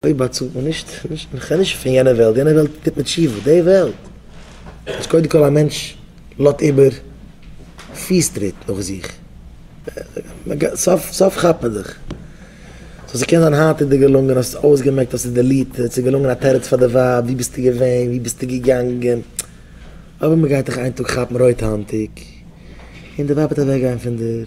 אויב באצאלט מען נישט, נישט, איך רעד נישט פון יענע וועלט, יענע וועלט טוט מען תשובה, די וועלט אז קודם כל א מענטש לאט איבער פיס טריט נאך זיך, סוף סוף כאפט מען זיך, סאו ס'קען זיין היינט איז דיר געלונגען, האסט עס אויסגעמעקט, האסט עס דעליטעד, ס'איז געלונגען א תירוץ פאר די ווייב, ווי ביסטו געווען, ווי ביסטו געגאנגען, אבער מ'גייט דיך איין טאג כאפן רויט האנטיג, און די ווייב וועט אוועקגיין פון דיר.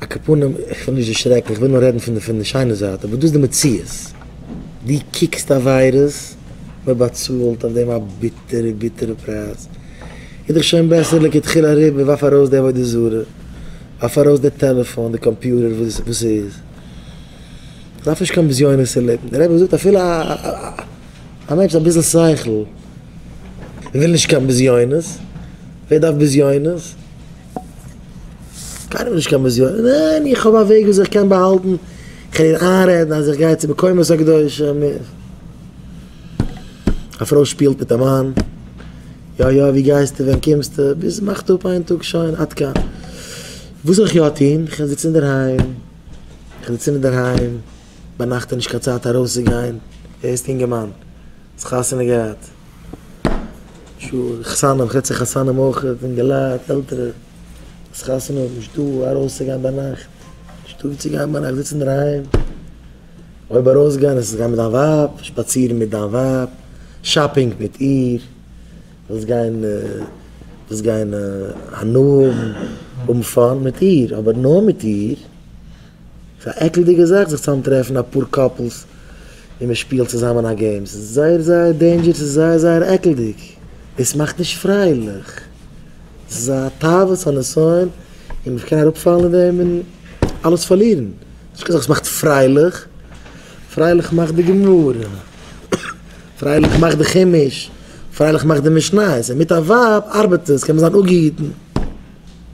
א כפנים, איך וויל נישט דערשרעקן, איך וויל נאר רעדן פון די פון די שיינע זייט, אבער דאס איז די מציאות. דו קוקסט עבירות, מען באצאלט אויף דעם א ביטערע ביטערע פרייז. איז דאך שוין בעסער לכתחילה אריבער, ווארף ארויס די עבודה זרה, ווארף ארויס די טעלעפאן, די קאמפיוטער, וואס ס'איז. מען דארף נישט קיין בזיונות צו לעבן. דער רבי זאגט אפילו א א מענטש מיט אביסל שכל וויל נישט קיין בזיונות, ווער דארף בזיונות? קיינער נישט קיין בזיון, ניין איך האב א וועג ווי אזוי איך קען באהאלטן, איך קען איר איינרעדן אז איך גיי צו מקומות הקדושים, א פרוי שפילט מיט א מאן, יא יא ווי גייסטו ווען קומסטו, ביז מאכט אפ איין טאג שוין עד כאן, וואס זאל איך יא טון, איך קען זיצן אינדערהיים, איך זיץ אינדערהיים, ביינאכט איז נישט קיין צייט ארויסצוגיין, ווער איז די אינגערמאן, האסט חתונה געהאט. שוין חתנים חצי חתנים אויך אינגעלייט עלטערע וואס חתונה האבן נישט דא וואו ארויס צו גיין ביינאכט נישטא וואו צו גיין ביינאכט זיצן אינדערהיים אויב ארויס גיין איז גיין מיט דיין ווייב שפאצירן מיט דיין ווייב שאפינג מיט איר ווילסט גיין ווילסט גיין הנאה האבן האבן פאן מיט איר אבער נאר מיט איר. ס'איז א עקלדיגע זאך זיך צאם טרעפן אפאר קאפלס און מען שפילט צוזאמען א געים, ס'איז זייער זייער דעינדזשער, ס'איז זייער זייער עקלדיג, דאס מאכט נישט פרייליך, דאס איז א תאוות הניסיון און מען קען אראפפאלן אין דעם און אלעס פארלירן, נישט קיין זאך וואס מאכט פרייליך, פרייליך מאכט די גמרא, פרייליך מאכט די חומש, פרייליך מאכט די משניות, און מיט א ווייב ארבעט עס, קען מען זיין אפגעהיטן.